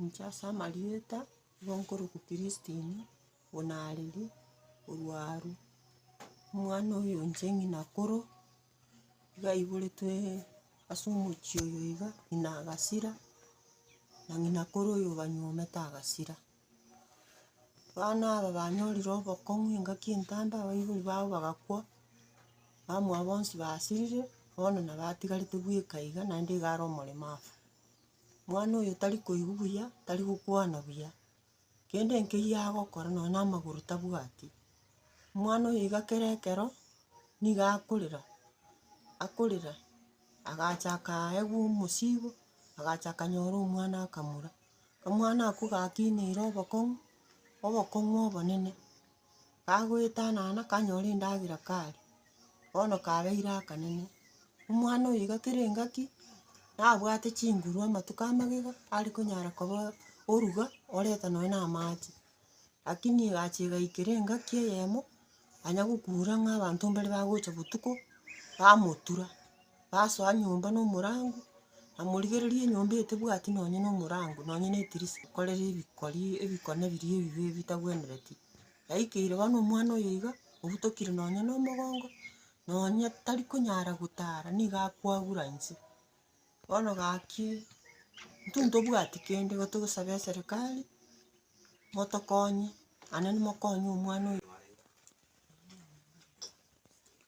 Inche ase amarieta nigo nkorokwa Christine Onariri orwa Aruu, omwana oyo inche ng'ina koro. Gaiboretwe ase omochie oyo iga, ng'ina agasira, na ng'ina kore oyo banywa omete agasira. Abana aba banyorire obokong'u engaki entanda abaibori babo bagakwa, abamwabo bonsi basirire, bono na batigarete bweka iga naende iga are omoremafu. Mwana oyo tari koigwa buya, tari gokwana buya. Kende nkeyio agokora nonya na amagoro tabwati, omwana oyo iga kera ekero niga akorera, akorera agachaka aegwa omosigo, agachaka anyore omwana akamura. Omwana okwo gakineire obokong'u, obokong'u obonene. Kagoetanana kanyora endagera karia, bono kabeire akanene, omwana oyo iga kera engaki, nabwate chinguru amatuko a magega, are konyara koba oruga, oreta nonya na amache. Lakini egachi egaikera engaki eyemo, yanya gokura ng'a abanto mbare bagocha botuko, bamotura. basoa nyomba na omorango, namorigereria enyomba eye tebwati nonye na omorango, nonye na edirisa, nkorere ebikori, ebikone biria ebibe bitagwenereti. Yaikeire bono omwana oyo iga, obutokire nonye na omogongo, nonye tari konyara gotara, nigo akoagura inse. Bono gaki, intwe ntobwati kende, igo togosaba eserekari, motokonye, naende mokonye omwana oyo.